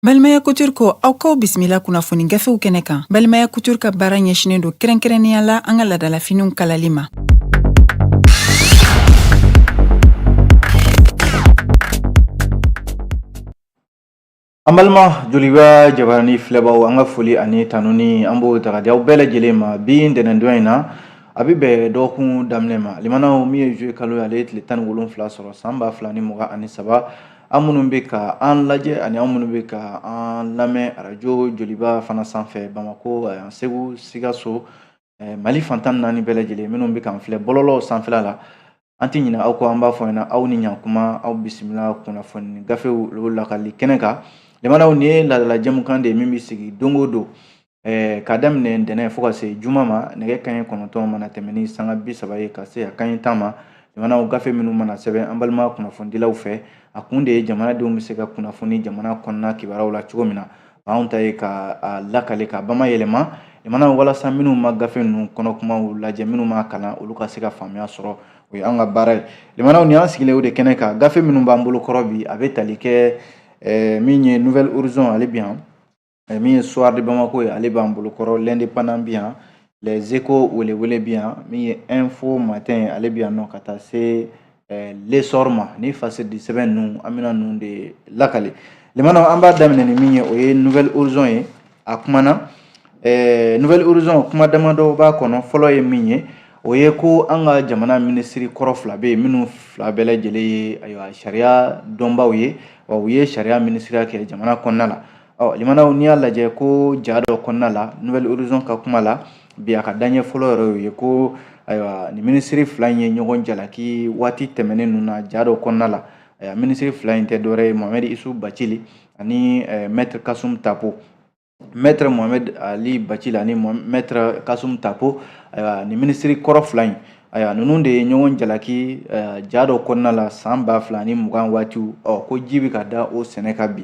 Balimaya Couture ko aw kaw bisimila kunnafoni gafew kɛnɛ kan Balimaya Couture ka baara ɲɛsinen don kɛrɛnkɛrɛnnenya la an ka ladalafiniw kalali ma. An balima joliba jabarani filɛbaw an ka foli ani tanuni an b'o taga di aw bɛɛ lajɛlen ma bi ntɛnɛndon in na a bɛ bɛn dɔgɔkun daminɛ ma limanaw min ye juillet kalo ye ale ye tile tan ni wolonfila sɔrɔ san ba fila ni mugan ani saba an minnu bɛ ka an lajɛ ani an minnu bɛ ka an lamɛn arajo joliba fana sanfɛ bamakɔ segu sikaso mali fantan naani bɛɛ lajɛlen minnu bɛ k'an filɛ bɔlɔlɔw sanfɛla la an tɛ ɲinɛ aw kɔ an b'a fɔ ɲɛna aw ni ɲankuma aw bisimila kunnafoni gafew olu lakali kɛnɛ kan limanaw nin ye laadala jɛmukan de ye min bɛ sigi don o don Eh, ka daminɛ ntɛnɛn fo ka se juma ma nɛgɛ kanɲɛ kɔnɔntɔn mana tɛmɛ ni sanga bi saba ye ka se a kanɲɛ tan ma limanaw gafe minnu mana sɛbɛn an balima kunnafonidilaw fɛ a kun de ye jamanadenw bɛ se ka kunnafoni jamana kɔnɔna kibaruyaw la cogo min na anw ta ye ka a lakale ka bamayɛlɛma limanaw walasa minnu ma gafe ninnu kɔnɔ kumaw lajɛ minnu ma kalan olu ka se ka faamuya sɔrɔ o ye an ka baara ye limanaw ni an sigilen o de kɛnɛ kan gafe minnu b'an bolo kɔrɔ bi a bɛ tali kɛ eh, min ye nouvel horizon ale bi yan eh, min ye soir de bamako ye ale b'an bolo kɔrɔ l'indépendant bi yan les échos welewele bi yan min ye info matin ale bi yan fo ka taa se l'essor ma ni fasɛdi sɛbɛn ninnu an bɛna ninnu de lakale limanaw an b'a daminɛ ni min ye o ye nouvel horizon ye a kumana ɛɛ nouvel horizon kuma damadɔ b'a kɔnɔ fɔlɔ ye min ye o ye ko an ka jamana minisiri kɔrɔ fila bɛ yen minnu fila bɛɛ lajɛlen ye ayiwa sariya dɔnbaw ye wa u ye sariya minisiriya kɛ jamana kɔnɔna la Ɔ limanaw n'i y'a lajɛ ko ja dɔ kɔnɔna la nouvel horizon ka kuma la bi a ka daɲɛ fɔlɔ yɛrɛ ye ko ayiwa nin minisiri fila in ye ɲɔgɔn jalaki waati tɛmɛnen ninnu na ja dɔ kɔnɔna la minisiri fila in tɛ dɔwɛrɛ ye muhamɛdi yusufu bacili ani mɛtiri kasumu tapo mɛtiri muhamɛdi ali bacili ani mɛtiri kasumu tapo ayiwa nin minisiri kɔrɔ fila in ayiwa ninnu de ye ɲɔgɔn jalaki ja dɔ kɔnɔna la san ba fila ni mugan waati ɔ ko ji bɛ ka da o sɛnɛ kan bi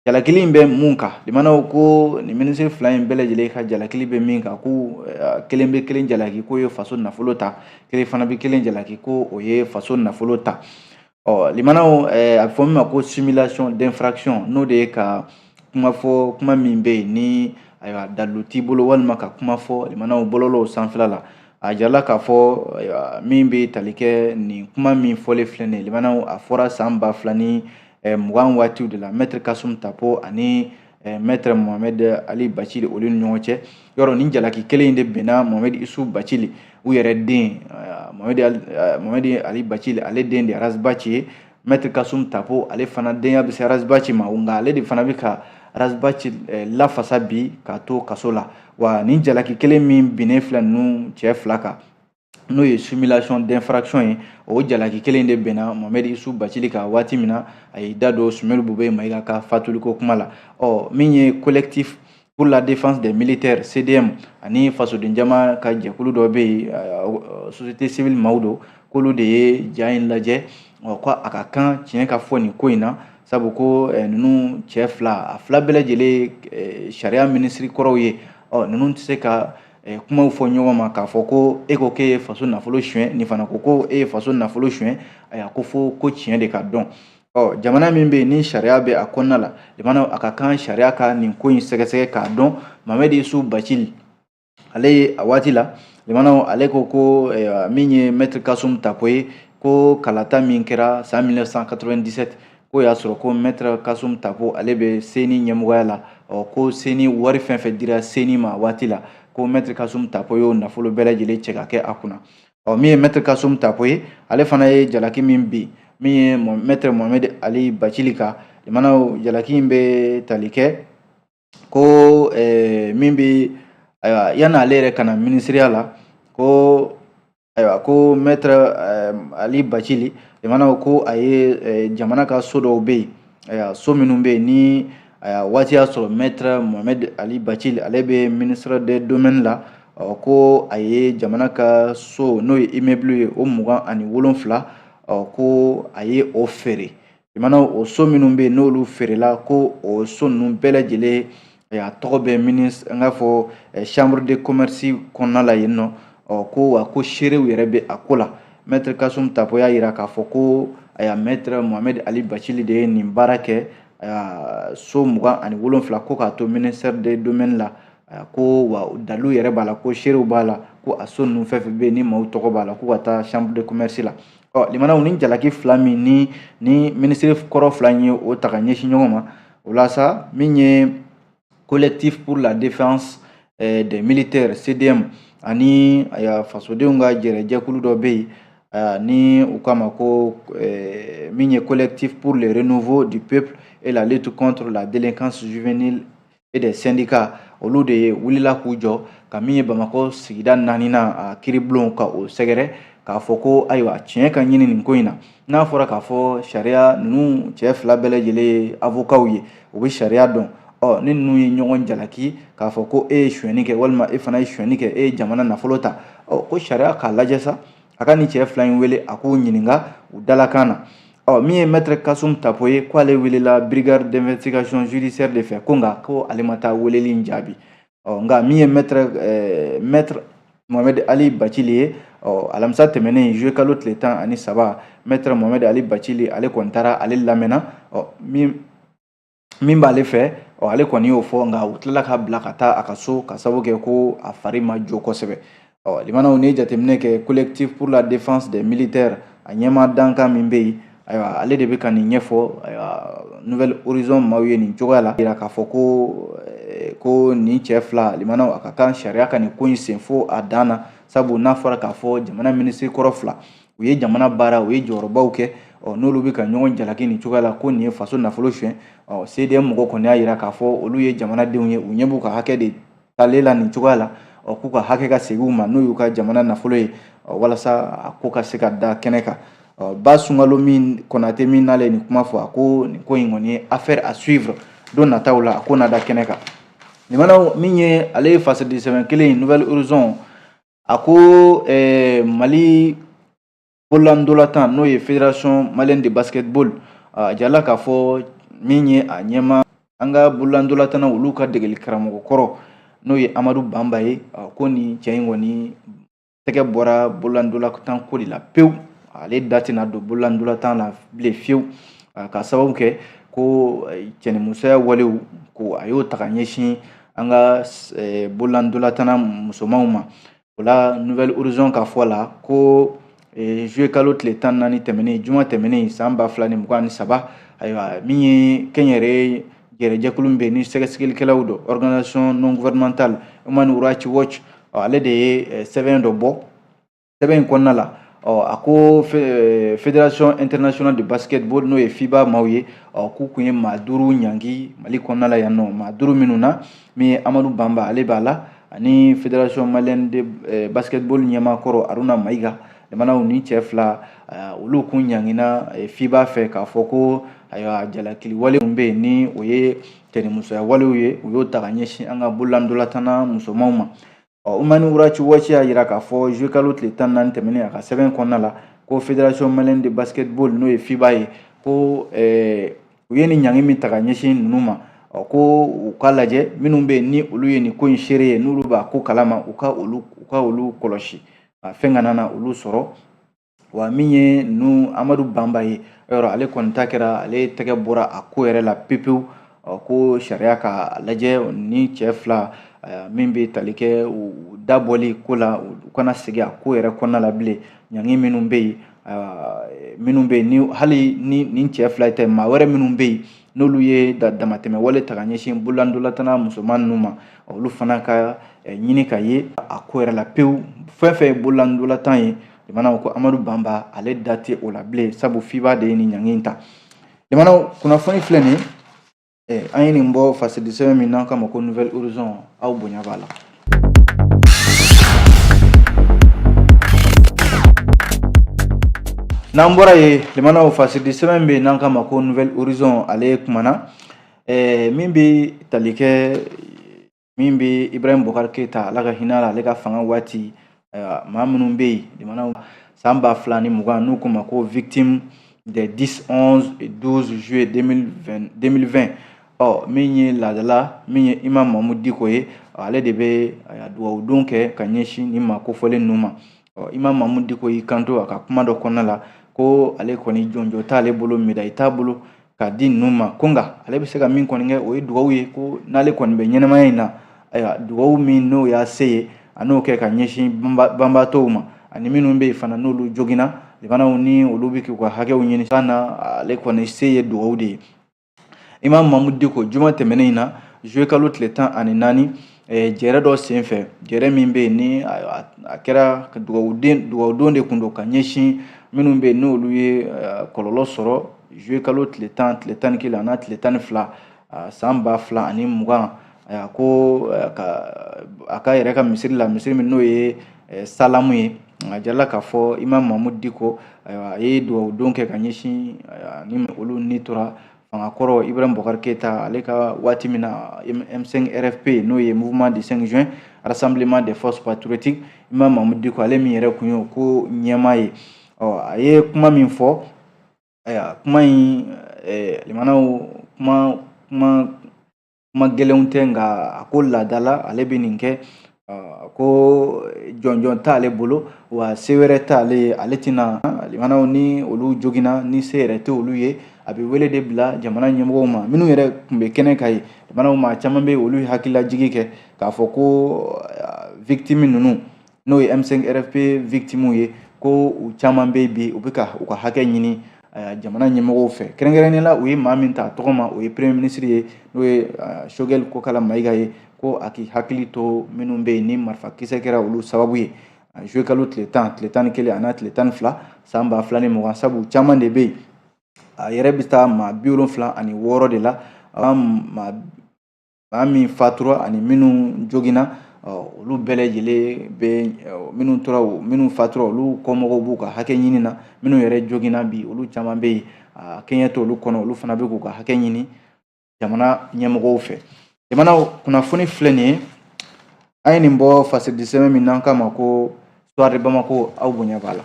jalakili in bɛ mun kan limanaw ko nin minisiri fila in bɛɛ lajɛlen ka jalakili bɛ min kan ko eh, kelen bɛ kelen jalaki k'o ye faso nafolo ta kelen fana bɛ kelen jalaki ko o ye faso nafolo ta ɔ limanaw eh, a bɛ fɔ min ma ko simulation d'infraction n'o de ye ka kuma fɔ kuma min bɛ yen ni ayiwa dalilu t'i bolo walima ka kuma fɔ limanaw bɔlɔlɔw sanfɛla la a jirala k'a fɔ ayiwa min bɛ tali kɛ nin kuma min fɔlen filɛ nin ye limanaw a fɔra san ba fila ni eh, mugan waatiw de la mɛtiri kasum tapo ani eh, mɛtiri mohamɛd ali bacili olu ni ɲɔgɔn cɛ yɔrɔ nin jalaki kelen in de binna mohamɛd isufu bacili u yɛrɛ den mohamɛd eh, ali bacili ale den de aras baci ye mɛtiri kasum tapo ale fana denya bɛ se aras baci ma nka ale de fana bɛ ka ras baci eh, lafasa bi k'a to kaso la wa nin jalaki kelen min binnen filɛ ninnu cɛ fila kan n'o ye simulation d'infraction ye o jalaki kelen de binna mohamɛdi isufu bacili kan waati min na a y'i da don sumɛyilu bubɛyi mayiga ka fatuliko kuma la ɔ min ye collectif pour la défense des militaires cdm ani fasoden jama ka jɛkulu dɔ bɛ yen société civile maaw don k'olu de ye ja in lajɛ ɔ ko a ka kan tiɲɛ ka fɔ nin ko in na sabu ko ninnu cɛ fila a fila bɛɛ lajɛlen sariya minisiri kɔrɔw ye ɔ ninnu tɛ se ka kumaw fɔ ɲɔgɔn ma k'a fɔ ko e ko k'e ye faso nafolo suɲɛ nin fana ko ko e ye faso nafolo suɲɛ ayiwa ko fo ko tiɲɛ de ka dɔn ɔ jamana min bɛ yen ni sariya bɛ a kɔnɔna la limanaw a ka kan sariya ka nin ko in sɛgɛsɛgɛ k'a dɔn mohamɛdi isufu bacili ale ye a waati la limanaw ale ko ko min ye mɛtiri kasum tapo ye ko kalata min kɛra san 1997 k'o y'a sɔrɔ ko mɛtɛrɛ kasum tapo ale bɛ seni ɲɛmɔgɔya la ɔ ko seni wari fɛn fɛn dira seni ma waati la ko mɛtɛrɛ kasum tapo y'o nafolo bɛɛ lajɛlen cɛ ka kɛ a kunna ɔ min ye mɛtɛrɛ kasum tapo ye ale fana ye jalaki min bin min ye mɛtɛrɛ mohamɛdi ali bacili kan limanaw jalaki in bɛ tali kɛ ko eh, min bɛ ayiwa yanni ale yɛrɛ ka na minisiriya la ko ayiwa ko mɛtɛrɛ eh, ali bacili limanaw ko a ye eh, jamana ka so dɔw bɛ yen ayiwa so minnu bɛ yen ni ayiwa waati y'a sɔrɔ mɛtɛrɛ mohamɛd ali bacili ale bɛ ministre de domaine la ɔ ko a ye jamana ka so n'o ye immeuble ye o mugan ani wolonfila ɔ ko a ye o feere limanaw o so minnu bɛ yen n'olu feerela ko o so ninnu bɛɛ lajɛlen a tɔgɔ bɛ minis an k'a fɔ chambre de commerce kɔnɔna la yen nɔ ɔ ko wa ko seerew yɛrɛ bɛ a ko la maitre kasum tapo y'a jira k'a fɔ ko ayiwa maitre mohamed ali bacili de ye nin baara kɛ ayiwa so mugan ani wolonfila ko k'a to ministère de domaine la ayiwa ko wa dalilu yɛrɛ b'a la ko seerew b'a la ko a so ninnu fɛn fɛn bɛ yen ni maaw tɔgɔ b'a la ko ka taa chambre de commerce la ɔ limanaw ni jalaki fila min ni ni minisiri kɔrɔ fila in ye o ta ka ɲɛsin ɲɔgɔn ma o la sa min ye collectif pour la défense eh, des militaires cdm ani fasodenw ka jɛrɛjɛkulu dɔ bɛ yen eh, ni u k'a ma ko eh, min ye collectif pour le renouveau du peuple et la lutte contre la délinquance juvénile et des syndicats olu de ye wulila k'u jɔ ka min ye bamakɔ sigida naaninan a kiribulon ka o sɛgɛrɛ k'a fɔ ko ayiwa tiɲɛ ka ɲini nin ko in na n'a fɔra k'a fɔ sariya ninnu cɛ fila bɛɛ lajɛlen ye avokaw ye u bɛ sariya dɔn ɔ ni ninnu ye ɲɔgɔn jalaki k'a fɔ ko e ye sonyɛni kɛ walima e fana ye sonyɛni kɛ e ye jamana nafolo ta ɔ ko sariya k'a lajɛ sa a ka nin cɛ fila in wele a k'u ɲininka u dalakan na Ɔ min ye maître kasum tapo ye k'ale welela brigade d'investigation judiciaire de fɛ ko nka ko ale ma taa weleli in jaabi ɔ nka min ye maître eh, maître mohamed ali bacili ye ɔ alamisa tɛmɛnen juillet kalo tile tan ani saba maître mohamed ali bacili ale kɔni taara ale lamɛnna ɔ min min b'ale fɛ ɔ ale kɔni y'o fɔ nka u tilala k'a bila ka taa a ka so ka sababu kɛ ko a fari ma jo kosɛbɛ ɔ limanaw ni jateminɛ kɛ collectif pour la défense des militaires a ɲɛmaa dankan min bɛ yen ayiwa ale de bɛ ka nin ɲɛfɔ ayiwa nouvel horizon maaw ye nin cogoya la jira k'a fɔ ko eh, ko nin cɛ fila limanaw a ka kan sariya ka nin ko in sen fo a dan na sabu n'a fɔra k'a fɔ jamana minisiri kɔrɔ fila u ye jamana baara u ye jɔyɔrɔbaw kɛ ɔ n'olu bɛ ka ɲɔgɔn jalaki nin cogoya la ko nin ye faso nafolo suɲɛ ɔ cdm mɔgɔ kɔni y'a jira k'a fɔ olu ye jamanadenw ye u ɲɛ b'u ka hakɛ de talen la nin cogoya la ɔ k'u ka hakɛ ka segin u ma n'o y'u ka jamana nafolo ye ɔ walasa a ko ka se ka da kɛnɛ kan ɔ ba sunkalo min kɔnate min n'ale ye nin kuma fɔ a ko nin ko in kɔni ye affaire à suivre don nataw la a ko na da kɛnɛ kan limanaw min ye ale ye fasadisɛbɛn kelen ye nouvel horizon a ko eh, mali bololantolatan n'o ye fédération malienne de basketball a jirala k'a fɔ min ye a ɲɛma an ka bololantolatan olu ka degeli karamɔgɔ kɔrɔ n'o ye amadu banba ye ko nin cɛ in kɔni tɛgɛ bɔra bololantolatan ko de la pewu ale da tɛna don bololantolatan na bilen fiyewu ka sababu kɛ ko eh, cɛnimusoya walew ko a y'o ta ka ɲɛsin an ka eh, bololandolatanna musomanw ma o la nouvel horizon ka fɔ la ko eh, juillet kalo tile tan ni naani tɛmɛnen juma tɛmɛnen san ba fila ni mugan ni saba ayiwa min ye kɛnyɛrɛye yɛrɛ jɛkulu min bɛ ni sɛgɛsɛgɛlikɛlaw don organisation non gouvernementale human rights watch ale de ye eh, sɛbɛn dɔ bɔ sɛbɛn in kɔnɔna la ɔ a ko fédération internationale de basketball n'o ye fiba maaw ye ɔ k'u kun ye maa duuru ɲangi mali kɔnɔna la yan nɔ maa duuru minnu na min ye amadu banba ale b'a la ani fédération malienne de eh, basketball ɲɛmaakɔrɔ aruna mayiga limanaw nin cɛ fila eh, olu kun ɲangina eh, fiba fɛ k'a fɔ ko ayiwa jalakili wale min bɛ yen ni o ye cɛnimusoya walew ye u y'o ta ka ɲɛsin an ka bololandolatanna musomanw ma Human Rights Watch y'a yira k'a fɔ zuwekalo tile tan naani tɛmɛnen a ka sɛbɛn kɔnɔna la ko fédération malienne de basketball n'o ye fiba ye ko eh, u ye nin ɲangi min ta ka ɲɛsin ninnu ma ɔ ko u ka lajɛ minnu bɛ yen ni olu ye nin ko in seere ye n'olu b'a ko kalama u ka olu u ka olu kɔlɔsi a fɛn kana na olu sɔrɔ wa min ye ninnu amadu banba ye yɔrɔ ale kɔni ta kɛra ale tɛgɛ bɔra a ko yɛrɛ la pepewu ko sariya ka lajɛ ni cɛ fila min bɛ tali kɛ u dabɔli ko la u kana segin a ko yɛrɛ kɔnɔna la bilen ɲangi minnu bɛ yen minnu bɛ yen ni hali ni nin cɛ fila tɛ maa wɛrɛ minnu bɛ yen n'olu ye da damatɛmɛ wale ta ka ɲɛsin bololandolatana musoman ninnu ma olu fana ka eh, ɲini ka ye a ko yɛrɛ la pewu fɛn fɛn ye bololandolatan ye limanaw ko amadu banba ale da tɛ o la bilen sabu fiba de ye nin ɲangi in ta limanaw kunnafoni filɛ nin ye eh, an ye nin bɔ fasidisɛbɛn min n'an k'a ma ko nouvelle horizon aw bonya b'a la N'an bɔra yen limanaw fasidi sɛbɛn bɛ yen n'an k'a ma ko nouvelle horizon ale kumana ɛɛ min bɛ tali kɛ min bɛ Ibrahim Boubacar Keita Ala ka hinɛ a la ale ka fanga waati Ayiwa maa minnu bɛ yen limanaw san ba fila ni mugan n'u k'u ma ko victime des 10 11 et 12 juillet 2020 ɔ min ye laada la min ye Imam Mahmoud Diko ye ale de bɛ dugawudon kɛ ka ɲɛsin nin maa kofɔlen ninnu ma ɔ Imam Mahmoud Diko y'i kanto a ka kuma dɔ kɔnɔna la ko ale kɔni jɔnjɔn t'ale bolo médaille t'a bolo k'a di ninnu ma ko nka ale bɛ se ka min kɔni kɛ o ye dugawu ye ko n'ale kɔni bɛ ɲɛnɛmaya in na ayiwa dugawu min n'o y'a se ye a n'o kɛ ka ɲɛsin banbaatɔw ma ani minnu bɛ yen fana n'olu joginna limanaw ni olu bɛ k'u ka hakɛw ɲini san na ale kɔni se ye dugawu de ye imam mamudu diko juma tɛmɛnen in na zuwe kalo tile tan ani naani jɛɛrɛ dɔ senfɛ jɛɛrɛ min bɛ yen ni a kɛra dugawuden dugawudon de kun don ka ɲɛsin minnu bɛ yen n'olu ye kɔlɔlɔ sɔrɔ zuwe kalo tile tan tile tan ni kelen an'a tile tan ni fila san ba fila ani mugan a ko ka a ka yɛrɛ ka misiri la misiri min n'o ye salamu ye a jirala k'a fɔ imam mamudu diko a ye dugawudon kɛ ka ɲɛsin ni olu ni tora fanga kɔrɔ Ibrahim Boubacar Keita ale ka waati min na M5 RFP n'o ye Mouvement du 5 juin Rassemblement des forces patriotiques Imam Mahmoud Diko ale min yɛrɛ kun y'o ko ɲɛmaa ye ɔ a ye kuma min fɔ ayiwa kuma in limanaw kuma kuma kuma gɛlɛnw tɛ nka a ko laadala ale bɛ nin kɛ ko jɔnjɔn t'ale bolo wa se wɛrɛ t'ale ye ale tɛna limanaw ni olu joginna ni se yɛrɛ tɛ olu ye a bɛ wele de bila jamana ɲɛmɔgɔw ma minnu yɛrɛ tun bɛ kɛnɛ kan yen limanaw maa caman bɛ olu hakililajigi kɛ k'a fɔ ko victime ninnu n'o ye M5 RFP victimes ye ko u caman bɛ bi u bɛ ka u ka hakɛ ɲini jamana ɲɛmɔgɔw fɛ kɛrɛnkɛrɛnnen la u ye maa min ta tɔgɔ ma o ye premier ministre ye n'o ye Choguel Kokala Mayiga ye ko a k'i hakili to minnu bɛ yen ni marifa kisɛ kɛra olu sababu ye juillet kalo tile tan tile tan ni kelen an'a tile tan ni fila san ba fila ni mugan sabu caman de bɛ yen a yɛrɛ bɛ taa maa bi wolonfila ani wɔɔrɔ de la maa min fatura ani minnu joginna olu bɛɛ lajɛlen bɛ minnu tora minnu fatura olu kɔmɔgɔw b'u ka hakɛ ɲini na minnu yɛrɛ joginna bi olu caman bɛ yen a kɛɲɛ to olu kɔnɔ olu fana bɛ k'u ka hakɛ ɲini jamana ɲɛmɔgɔw fɛ jamana kunnafoni filɛ nin ye an ye nin bɔ fasidisɛbɛn min n'an k'a ma ko Soir de Bamako aw bonya b'a la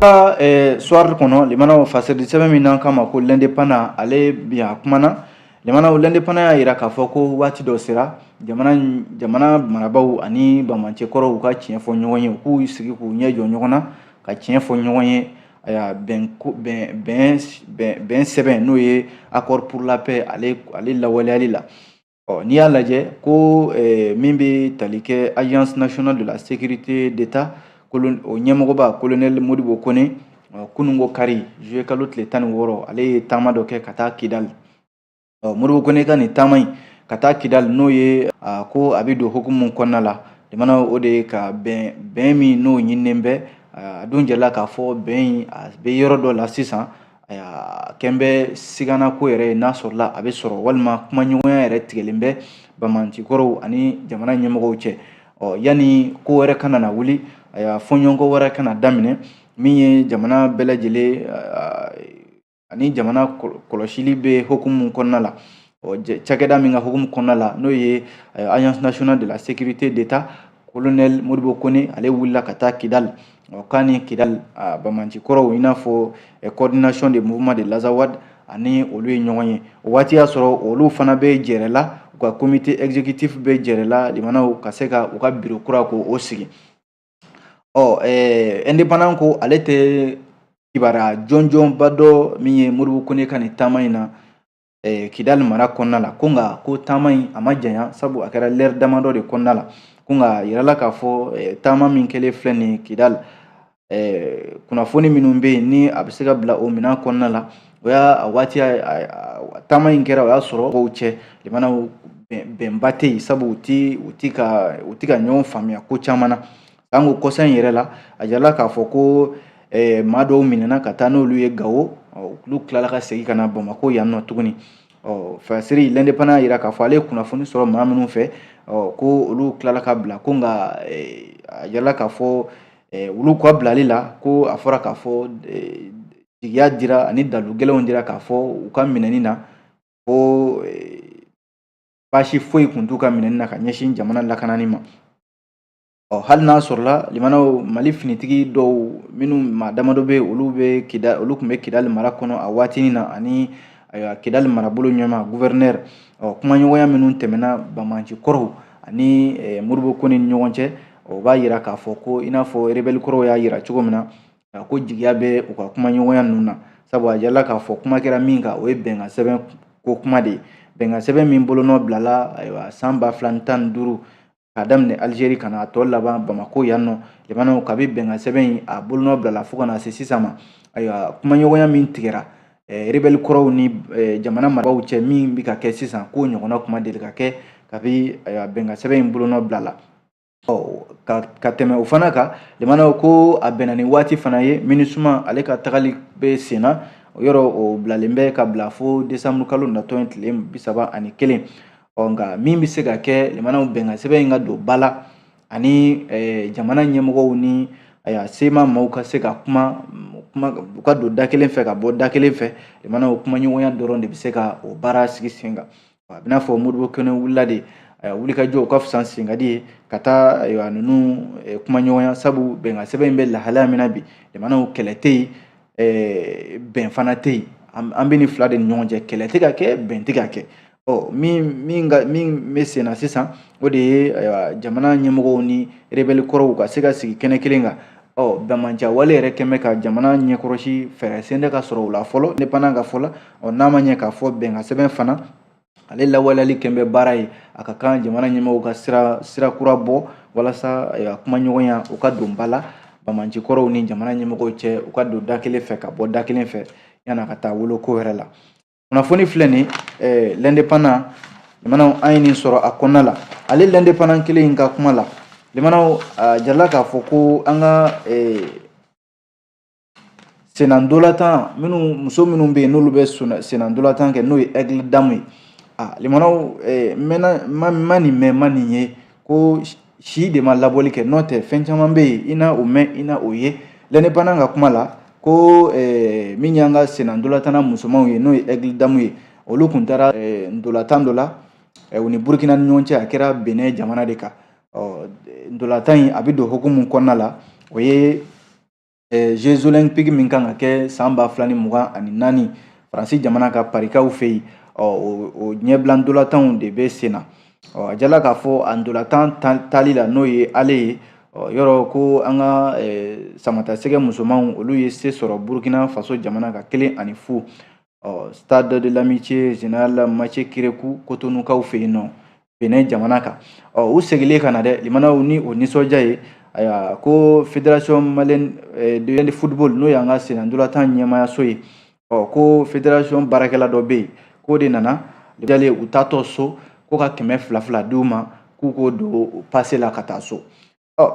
ka eh, soir kɔnɔ limanaw fasɛridi sɛbɛn min n'an k'a ma ko l'indépendant ale bi a kumana limanaw l'indépendant y'a yira k'a fɔ ko waati dɔ sera jamana jamana marabaaw ani bamanci kɔrɔw u ka tiɲɛ fɔ ɲɔgɔn ye u k'u sigi k'u ɲɛ jɔ ɲɔgɔn na ka tiɲɛ fɔ ɲɔgɔn ye aya bɛn sɛbɛn n'o ye accord pour la paix ale ale lawaleyali la Ɔ n'i y'a lajɛ ko eh, min bɛ tali kɛ agence nationale de la sécurité d'état o ɲɛmɔgɔba colonel modibo kone kununko kari juillet kalo tile tan ni wɔɔrɔ ale ye taama dɔ kɛ ka taa kidali ɔ modibo kone ka nin taama in ka taa kidali n'o ye ko a bɛ don hukumu kɔnɔna la jamana o de ye ka bɛn bɛn min n'o ɲininen bɛ a dun jɛla k'a fɔ bɛn in a bɛ yɔrɔ dɔ la sisan Ayiwa kɛlen bɛ sigana ko yɛrɛ ye n'a sɔrɔla a bɛ sɔrɔ walima kumaɲɔgɔnya yɛrɛ tigɛlen bɛ bamanci kɔrɔw ani jamana ɲɛmɔgɔw cɛ ɔ yanni ko wɛrɛ kana na wuli a y'a fɔɲɔgɔnkɔ wɛrɛ kana daminɛ min ye jamana bɛɛ lajɛlen ani jamana kɔlɔsili bɛ hukumu kɔnɔna la ɔ cakɛda min ka hukumu kɔnɔna la n'o ye agence nationale de la sécurité d'état colonel modibo kone ale wulila ka taa kidali ɔ k'a ni kidali a bamanci kɔrɔw i n'a fɔ coordination des mouvements de l'azawad ani olu ye ɲɔgɔn ye o waati y'a sɔrɔ olu fana bɛ jɛrɛ la u ka comité exécutif bɛ jɛrɛ la limanaw ka se ka u ka biro kura k'o sigi ɔ ɛɛ indépendant ko ale tɛ kibaruya jɔnjɔnba dɔn min ye modibo kone ka nin taama in na eh, kidali mara kɔnɔna la ko nka ko taama in a ma janya sabu a kɛra lɛri damadɔ de kɔnɔna la ko nka a yirala k'a fɔ eh, taama min kɛlen filɛ nin ye kidali eh, kunnafoni minnu bɛ yen ni a bɛ se ka bila o minɛn kɔnɔna la o y'a a waati taama in kɛra o y'a sɔrɔ mɔgɔw cɛ lamɛnnaw bɛnba tɛ yen sabu u ti u ti ka u ti ka ɲɔgɔn faamuya ko caman na An ko kɔsa in yɛrɛ la a yirala k'a fɔ ko maa dɔw minɛna ka taa n'olu ye gawo olu tilala ka segin ka na bamakɔ yan nɔ tuguni ɔ fɛsiri lɛndepanan y'a jira k'a fɔ ale ye kunnafoni sɔrɔ maa minnu fɛ ko olu tilala ka bila ko nka a yirala k'a fɔ olu ka bilali la ko a fɔra k'a fɔ jigiya dira ani dalu gɛlɛnw dira k'a fɔ u ka minɛni na ko baasi foyi tun t'u ka minɛni na ka ɲɛsin jamana lakanani ma Ɔ hali n'a sɔrɔla lamɛnnaw mali finitigi dɔw minnu maa damadɔ bɛ olu bɛ kida olu tun bɛ kidali mara kɔnɔ a waati na ani ayiwa kidali marabolo ɲɛmaa guvɛrnɛri ɔ kumaɲɔgɔnya minnu tɛmɛna banbaanci kɔrɔw ani modibo kone ni ɲɔgɔn cɛ o b'a yira k'a fɔ ko i n'a fɔ rebɛli kɔrɔw y'a yira cogo min na ko jigiya bɛ u ka kumaɲɔgɔnya ninnu na sabu a yirala k'a fɔ kuma kɛra min kan o ye bɛnkan sɛbɛn ko kuma de ye bɛnkan sɛbɛn min bolonɔ bilala ayiwa san ba fila ni tan ni duuru k'a daminɛ alizeri ka na a tɔ laban bamako yan nɔ lamɛnnaw kabi bɛnkan sɛbɛn in a bolonɔ bilala fo ka na se sisan ma ayiwa kumaɲɔgɔnya min tigɛra eh, rebɛli kɔrɔw ni eh, jamana marabaaw cɛ min bɛ ka kɛ sisan k'o ɲɔgɔnna ko ma deli ka kɛ kabi ayiwa bɛnkan sɛbɛn in bolonɔ bilala ka, ka tɛmɛ o fana kan lamɛnnaw ko a bɛnna ni waati fana ye minisuma ale ka tagali bɛ sen na yɔrɔ o bilalen bɛ ka bila fo desanburu kalo natɔ in tile bi saba ani kelen ɔ nka min bɛ se ka kɛ lamɛnnaw bɛnkan sɛbɛn in ka don ba la ani jamana ɲɛmɔgɔw ni ayiwa sema maaw ka se ka kuma kuma u ka don da kelen fɛ ka bɔ da kelen fɛ lamɛnnaw kumaɲɔgɔnya dɔrɔn de bɛ se ka o baara sigi sen kan a b'i n'a fɔ modibo kone wulila de wulikajɔ o ka fisa senkadi ye ka taa ayiwa ninnu kumaɲɔgɔnya sabu bɛnkan sɛbɛn in bɛ lahalaya min na bi lamɛnnaw kɛlɛ tɛ yen bɛn fana tɛ yen an bɛ nin fila de ni ɲɔgɔn cɛ kɛlɛ tɛ ka kɛ bɛn tɛ ka kɛ ɔ min min ka min bɛ sen na sisan o de ye jamana ɲɛmɔgɔw ni rebɛli kɔrɔw ka se ka sigi kɛnɛ kelen kan ɔ banbaanciya wale yɛrɛ kɛn bɛ ka jamana ɲɛkɔrɔsi fɛɛrɛ si tɛ ka sɔrɔ o la fɔlɔ lɛndepanan ka fɔ la ɔ n'a ma ɲɛ k'a fɔ bɛnkan sɛbɛn fana ale lawaleyali kɛn bɛ baara ye a ka kan jamana ɲɛmɔgɔw ka sira sira kura bɔ walasa eh, a kumaɲɔgɔnya u ka don ba la banbaanci kɔrɔw ni jamana ɲɛmɔgɔw cɛ u ka don da kelen fɛ ka bɔ da kelen fɛ yan'a ka taa wolo ko wɛrɛ la kunnafoni filɛ nin eh, lɛndepanan lamɛnnaw an ye nin sɔrɔ a kɔnɔna la ale lɛndepanan kelen in ka kuma la lamɛnnaw a jirala k'a fɔ ko an ka eh, Sennadolatan minnu muso minnu bɛ yen n'olu bɛ sennadolatan kɛ n'o ye aigles dames ye a limanaw ma nin mɛn ma nin ye ko si de ma laboli kɛ n'o tɛ fɛn caman bɛ yen i na o mɛn i na o ye l'indépendant ka kuma la ko min y'an ka sennadolatan musomanw ye n'o ye aigles dames ye olu tun taara ntolatan dɔ la u ni burukina ni ɲɔgɔn cɛ a kɛra benin jamana de kan ɔ ntolatan in a bɛ don hukumu kɔnɔna la o ye jeux olympiques min kan ka kɛ san ba fila ni mugan ani naani faransi jamana kan parikaw fɛ yen ɔ o ɲɛbila ntolatanw de bɛ sen na ɔ a jala k'a fɔ a ntolatan tali la n'o ye ale ye ɔ yɔrɔ ko an ka samatasɛgɛ musomanw olu ye se sɔrɔ burukina faso jamana kan kelen ani fu ɔ stade de l'amitié général mathieu kérékou kotonukaw fɛ yen nɔ benin jamana kan ɔ u segilen ka na dɛ limanaw ni o nisɔndiya ye ayiwa ko fédération malienne eh, de football n'o y'an ka senandolatan ɲɛmaayaso ye ɔ ko fédération baarakɛla dɔ bɛ yen k'o de nana jalen u taatɔ so ko ka kɛmɛ fila fila di u ma k'u k'o don pase la ka taa so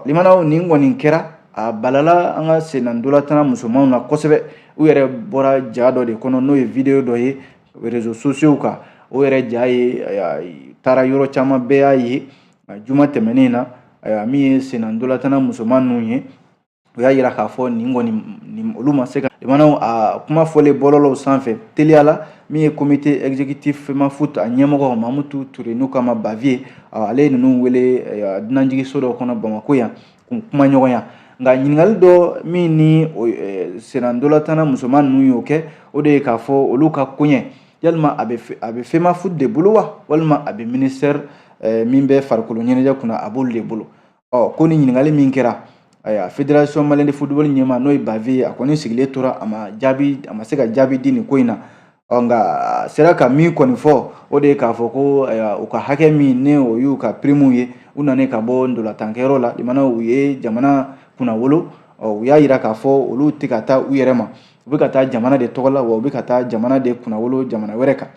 limanaw nin kɔni kɛra a balala an ka sennadolatan musomanw na kosɛbɛ u yɛrɛ bɔra ja dɔ de kɔnɔ n'o ye videyo dɔ ye rezo sosiyow kan o yɛrɛ ja ye taara yɔrɔ caman bɛɛ y'a ye juma tɛmɛnen na min ye sennadolatan musoman ninnu ye u y'a jira k'a fɔ nin kɔni nin olu ma se ka limanaw a kuma fɔlen bɔlɔlɔw sanfɛ teliya la min ye comité exécutif femafoot a ɲɛmɔgɔ mamutu ture n'u k'a ma bavieux ale ye ninnu wele dunanjigiso dɔ kɔnɔ bamako yan k'u kumaɲɔgɔnya nka ɲininkali dɔ min ni senandolatanna musoman ninnu y'o kɛ o de ye k'a fɔ olu ka koɲɛ yalima a bɛ femafoot de bolo wa walima a bɛ ministère min bɛ farikolo ɲɛnajɛ kunna a b'olu de bolo ɔ ko ni ɲininkali min kɛra ayiwa federasɔn maliyɛn de futubɔli ɲɛmaa n'o ye bavieux ye a kɔni sigilen tora a ma jaabi a ma se ka jaabi di nin ko in na ɔ nka a sera ka min kɔni fɔ o de ye k'a fɔ ko ayiwa u ka hakɛ min ni o y'u ka pirimuw ye u nanen ka bɔ ndolatankɛyɔrɔ la limanaw u ye jamana kunnawolo ɔ u y'a yira k'a fɔ olu tɛ ka taa u yɛrɛ ma u bɛ ka taa jamana de tɔgɔ la wa u bɛ ka taa jamana de kunnawolo jamana wɛrɛ kan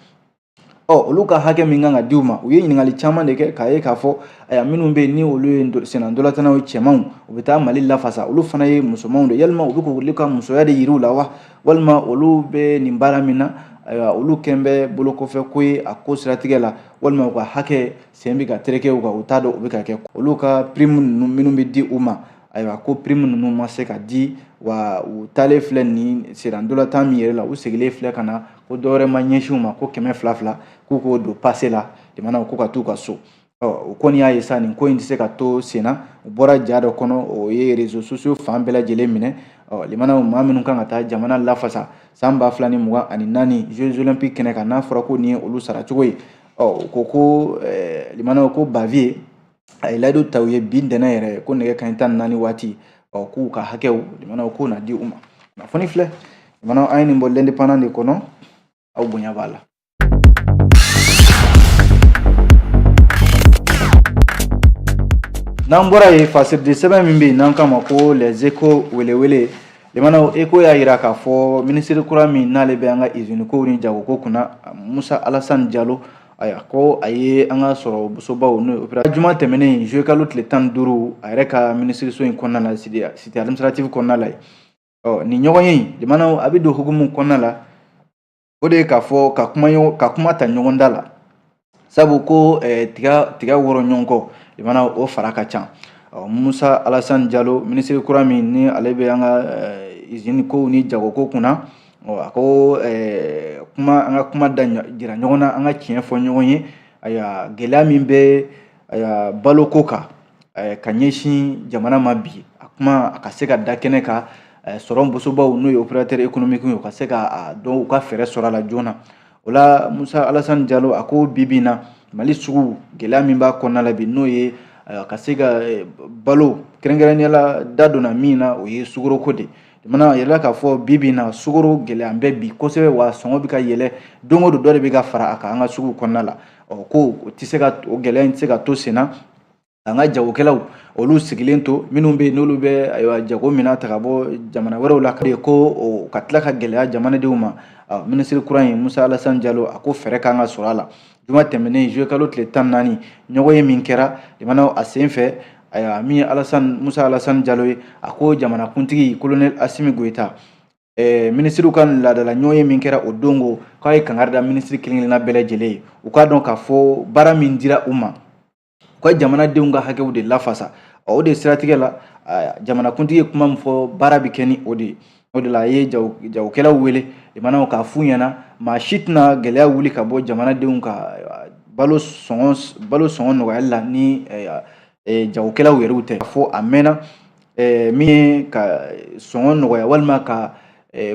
ɔ olu ka hakɛ min kan ka di u ma u ye ɲininkali caman de kɛ k'a ye k'a fɔ ayiwa minnu bɛ yen ni olu ye sennantolatannaw ye cɛmanw u bɛ taa mali lafasa olu fana ye musomanw de yalima u bɛ k'olu ka musoya de yir'u la wa walima olu bɛ nin baara min na ayiwa olu kɛn bɛ bolokɔfɛ ko ye a ko siratigɛ la walima u ka hakɛ sen bɛ ka tereke u kan u t'a dɔn u bɛ ka kɛ olu ka pirimu ninnu minnu bɛ di u ma ayiwa ko prime ninnu ma se ka di wa u taalen filɛ nin sennantolatan min yɛrɛ la u segilen filɛ ka na ko dɔwɛrɛ ma ɲɛsin u ma ko kɛmɛ fila fila k'u k'o don pase la limanaw ko ka t'u ka so u kɔni y'a ye sa nin ko in tɛ se ka to senna u bɔra ja dɔ kɔnɔ o ye rezo sosiyo fan bɛɛ lajɛlen minɛ limanaw maa minnu kan ka taa jamana lafasa san ba fila ni mugan ani naani jeux olympiques kɛnɛ kan n'a fɔra ko nin ye olu saracogo ye ɔ u ko ko limanaw ko baviye a ye layidu ta u ye bi ntɛnɛn yɛrɛ ko nɛgɛ kanɲɛ tan ni naani waati ɔ k'u ka hakɛw limanaw k'u na di u ma kunnafoni filɛ limanaw an ye nin bɔ l'indépendant de kɔnɔ aw bonya b'a la n'an bɔra yen fasiridi sɛbɛn min bɛ yen n'an k'a ma ko les échos welewele limanaw eko y'a jira k'a fɔ minisiri kura min n'ale bɛ an ka izini kow ni jagoko kunna musa alasani jalo Ayiwa ko a ye an ka sɔrɔ bosobaw n'o ye juma tɛmɛnen juillet kalo tile tan ni duuru a yɛrɛ ka minisiriso in kɔnɔna la cité administrative kɔnɔna la ɔ nin ɲɔgɔnye limanaw a bɛ don hukumu kɔnɔna la o de ye k'a fɔ ka kuma ka kuma ta ɲɔgɔn da la sabu ko tiga tiga wɔrɔ ɲɔgɔn kɔ limanaw o fara ka ca ɔ musa alasan jalo minisiri kura min ni ale bɛ an ka izini ko ni jagoko kunna A ko kuma an ka kuma da jira ɲɔgɔn na an ka tiɲɛ fɔ ɲɔgɔn ye ayiwa gɛlɛya min bɛ balo ko kan ka ɲɛsin jamana ma bi a kuma a ka se ka da kɛnɛ kan sɔrɔ bosobaw n'o ye opérateurs économiques ye u ka se k'a dɔn u ka fɛɛrɛ sɔrɔ a la joona o la musa alasan jalo a ko bi bi na mali sugu gɛlɛya min b'a kɔnɔna la bi n'o ye ka se ka balo kɛrɛnkɛrɛnnenya la da donna min na o ye sukoro ko de Jamana yɛrɛ la k'a fɔ bi bi in na sukoro gɛlɛya bɛ bi kosɛbɛ wa sɔngɔ bɛ ka yɛlɛ don o don dɔ de bɛ ka fara a kan an ka sugu kɔnɔna la ɔ ko o tɛ se ka o gɛlɛya in tɛ se ka to sen na an ka jagokɛlaw olu sigilen to minnu bɛ yen n'olu bɛ ayiwa jago minan ta ka bɔ jamana wɛrɛw la ka ye ko o ka tila ka gɛlɛya jamanadenw ma minisiri kura in musa alasani jalo a ko fɛɛrɛ kan ka sɔrɔ a la juma tɛmɛnen juillet kalo tile tan ni naani ɲɔgɔnye min kɛra limanaw a sen fɛ ayiwa min ye alasan musa alasan jalo ye a ko jamanakuntigi kolonɛli asimi goyita eh, minisiriw ka laadala ɲɔgɔnye min kɛra o don ko k'a ye kangari da minisiri kelen kelenna bɛɛ lajɛlen ye u k'a dɔn k'a fɔ baara min dira u ma u ka jamanadenw ka hakɛw de lafasa o de siratigɛ la jamanakuntigi ye kuma min fɔ baara bɛ kɛ ni o de ye o de la a ye jagokɛlaw wele limanaw k'a f'u ɲɛna maa si tɛna gɛlɛya wuli ka bɔ jamanadenw ka balo sɔngɔ balo sɔngɔ nɔgɔyali la ni jagokɛlaw yɛrɛw tɛ fo a mɛnna Ɛɛ min ye ka sɔngɔ nɔgɔya walima ka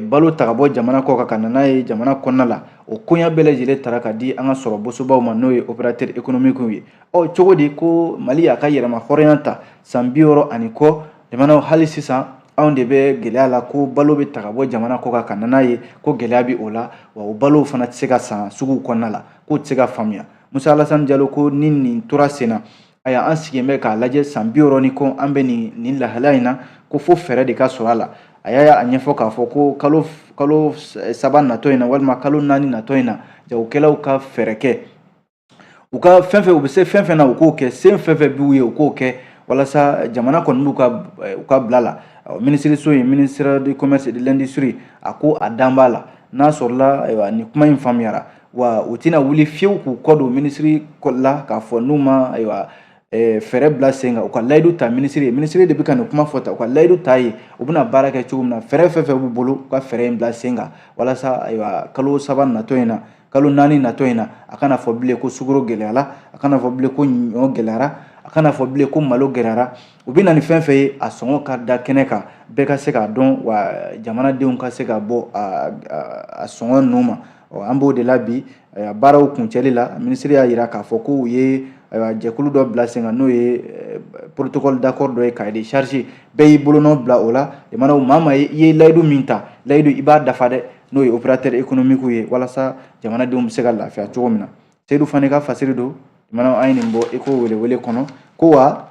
balo ta ka bɔ jamana kɔ kan ka n'a ye jamana kɔnɔna la o koɲa bɛɛ lajɛlen tara ka di an ka sɔrɔ bosobaw ma n'o ye opérateurs économiques ye ɔ cogo di ko mali y'a ka yɛrɛmahɔrɔnya ta san bi wɔɔrɔ ani kɔ limanaw hali sisan anw de bɛ gɛlɛya la ko balo bɛ ta ka bɔ jamana kɔ kan ka n'a ye ko gɛlɛya bɛ o la wa o balo fana tɛ se ka san sugu kɔnɔna la k'o tɛ se ka faamuya Musa Alasani Jalo ko ni nin tora sen na ayiwa an sigilen bɛ k'a lajɛ san bi wɔɔrɔ ni kɔ an bɛ nin nin lahalaya in na ko fo fɛɛrɛ de ka sɔrɔ a la a y'a a ɲɛfɔ k'a fɔ ko kalo kalo saba natɔ in na walima kalo naani natɔ in na jagokɛlaw ka fɛɛrɛ kɛ u ka fɛn fɛn u bɛ se fɛn fɛn na u k'o kɛ se fɛn fɛn b'u ye u k'o kɛ walasa jamana kɔni b'u ka u ka bila la minisiriso ye ministère du commerce de l'industrie a ko a dalen b'a la n'a sɔrɔla ayiwa nin kuma in faamuyara wa u tɛna wuli fiyewu k'u kɔ don minisiri la k'a fɔ n'u ma ayiwa fɛɛrɛ bila sen kan u ka layidu ta minisiri ye minisiri de bɛ ka nin kuma fɔ tan u ka layidu ta ye u bɛna baara kɛ cogo min na fɛɛrɛ fɛn fɛn b'u bolo u ka fɛɛrɛ in bila sen kan walasa ayiwa kalo saba natɔ in na kalo naani natɔ in na a kana fɔ bilen ko sukoro gɛlɛyara a kana fɔ bilen ko ɲɔ gɛlɛyara a kana fɔ bilen ko malo gɛlɛyara u bɛ na ni fɛn fɛn ye a sɔngɔ ka da kɛnɛ kan bɛɛ ka se k'a dɔn wa jamanadenw ka se ka bɔ a sɔngɔ ninnu ma ɔ an b'o de la bi ayiwa baaraw kuncɛli la minisiri y'a jira k'a fɔ ko u ye ayiwa jɛkulu dɔ bila sen kan n'o ye eh, protocole d'accord dɔ ye cahier de charge bɛɛ y'i bolonɔ bila o la limanaw maa maa ye i ye layidu min ta layidu i b'a dafa dɛ n'o ye opérateur économique ye walasa jamanadenw bɛ se ka lafiya cogo min na seyidu fane ka fasiri don limanaw an ye nin bɔ Echo welewele kɔnɔ ko wa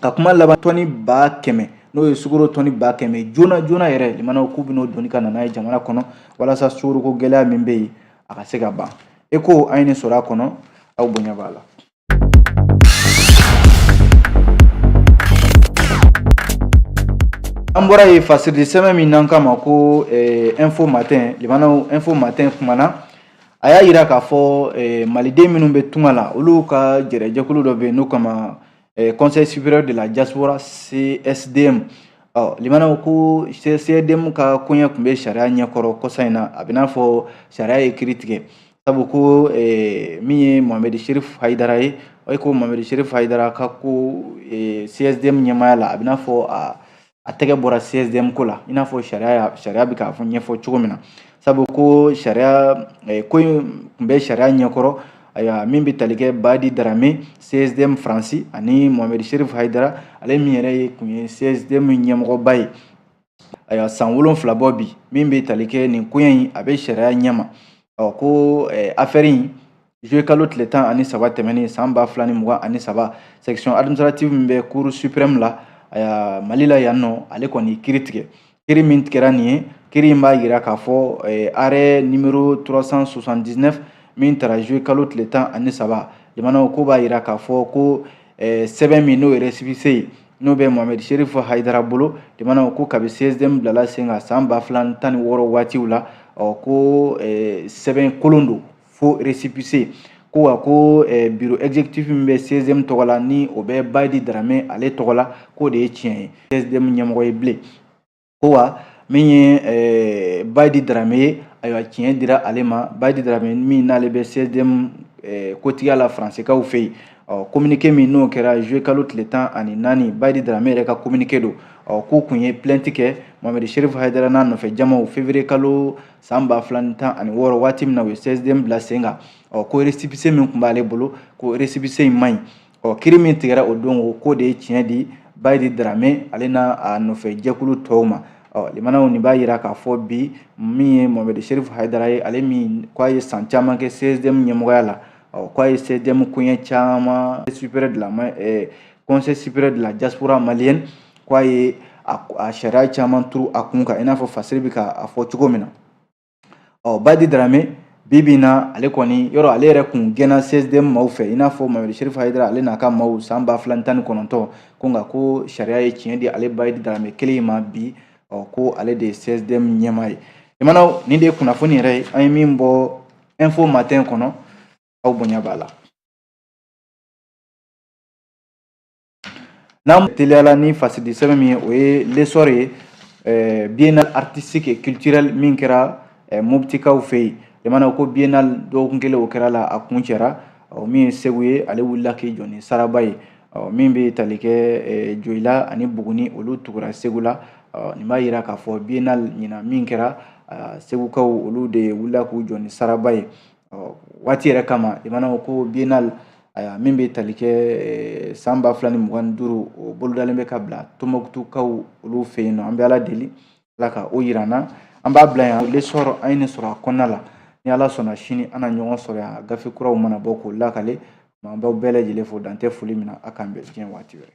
ka kuma laban tɔni ba kɛmɛ n'o ye sukoro tɔni ba kɛmɛ joona joona yɛrɛ limanaw k'u bɛn'o doni ka na n'a ye jamana kɔnɔ walasa sukoroko gɛlɛya min bɛ yen a ka se ka ban Echo an ye nin sɔrɔ a kɔnɔ aw bonya b'a la an bɔra yen fasiridisɛbɛn min n'an k'a ma ko eh, info matin limanaw info matin kumana a y'a yira k'a fɔ eh, maliden minnu bɛ tunga la olu ka jɛrɛjɛkulu dɔ bɛ yen n'u k'a ma conseil supérieur de la diaspora CSDM ɔ limanaw ko CSDM ka koɲɛ tun bɛ sariya ɲɛkɔrɔ kɔsa in na a bɛ n'a fɔ sariya ye kiri tigɛ sabu ko min ye Mohamed Sherif Hayidara ye o ko Mohamed Sherif Hayidara ka ko CSDM ɲɛmaaya la a bɛ n'a fɔ a a tɛgɛ bɔra CSDM ko la i n'a fɔ sariya sariya bɛ k'a fɔ ɲɛfɔ cogo min na sabu ko sariya eh, ko in tun bɛ sariya ɲɛkɔrɔ ayiwa min bɛ tali kɛ Badi Darame CSDM Faransi ani Mohamed Sherif Hayidara ale min yɛrɛ ye tun ye CSDM ɲɛmɔgɔba ye ayiwa san wolonfila bɔ bi min bɛ tali kɛ nin koɲɛ in a bɛ sariya ɲɛma ɔ ko eh, afɛri in Juillet kalo tile tan ani saba tɛmɛnen san ba fila ni mugan ani saba section administrative min bɛ cour supreme la aya mali la yan nɔ ale kɔni kiri tigɛ kiri min tigɛra nin ye kiri in b'a yira k'a fɔ eh, arrêt numéro 379 min tara juillet kalo tile tan ani saba jamanaw ko b'a yira k'a fɔ ko eh, sɛbɛn min n'o ye resipise ye n'o bɛ mohamɛd sherif hayidara bolo jamanaw ko kabi csdm bilala sen kan san ba fila tan ni wɔɔrɔ waatiw la ɔ ko eh, sɛbɛn kolon don faux resipise ko wa ko eh, bureau exécutif min bɛ csdm tɔgɔ la ni o bɛ bayidi darame ale tɔgɔ la k'o de ye tiɲɛ ye csdm ɲɛmɔgɔ ye bilen ko wa min ye eh, bayidi darame ye ayiwa tiɲɛ dira ale ma bayidi darame min n'ale bɛ csdm eh, kotigiya la faransikaw fɛ yen ɔ communiqué min n'o kɛra juillet kalo tile tan ani naani bayidi darame yɛrɛ ka communiqué don ɔ k'u kun ye plainte kɛ mohamɛd sherif hayidara n'a nɔfɛ jamaw février kalo san ba fila ni tan ani wɔɔrɔ waati min na u ye csdm bila sen kan ɔ ko resipise min tun b'ale bolo ko resipise in man ɲi ɔ kiri min tigɛra o don o k'o de ye tiɲɛ di bayidi darame ale n'a nɔfɛ jɛkulu tɔw ma ɔ jamanaw nin b'a yira k'a fɔ bi min ye mohamɛdi sherifu hayidara ye ale min ko a ye san caman kɛ csdm ɲɛmɔgɔya la ɔ ko a ye csdm koɲɛ caman supérieur de la conseil supérieur de la diaspora malienne k'a ye a sariya caman turu a kun kan i n'a fɔ fasiri bɛ k'a fɔ cogo min na ɔ bayidi darame bi bi in na ale kɔni yɔrɔ ale yɛrɛ kun gɛnna csdm maaw fɛ i n'a fɔ mohamɛd sherif hayidara ale n'a ka maaw san ba fila ni tan ni kɔnɔntɔn ko nka ko sariya ye tiɲɛ di ale bayidi darame kelen in ma bi ɔ ko ale de ye csdm ɲɛmaa ye jamanaw nin de ye kunnafoni yɛrɛ ye an ye min bɔ info matin kɔnɔ aw bonya b'a la N'an teliyala ni fasidi sɛbɛn min ye o ye l'essor ye eh, biennale artistique et culturelle min kɛra eh, moptikaw fɛ yen jamanaw ko biennale dɔgɔkun kelen o kɛra la a kuncɛra min ye segu ye ale wulila k'i jɔ ni saraba ye min bɛ tali kɛ eh, joyila ani buguni olu tugura segu la nin b'a yira k'a fɔ biennale ɲina min kɛra segukaw olu de wulila k'u jɔ ni saraba ye ɔ waati yɛrɛ kama jamanaw ko biennale ayiwa min bɛ tali kɛ eh, san ba fila ni mugan ni duuru o bolodalen bɛ ka bila tombouctoukaw olu fɛ yen nɔ an bɛ ala deli ala ka o yira an na an b'a bila yan l'essor an ye nin sɔrɔ a kɔnɔna la ni ala sɔnna sini an na ɲɔgɔn sɔrɔ yan gafe kuraw mana bɔ k'o lakale an b'aw bɛɛ lajɛlen fo dan tɛ foli min na a k'an bɛn diɲɛ waati wɛrɛ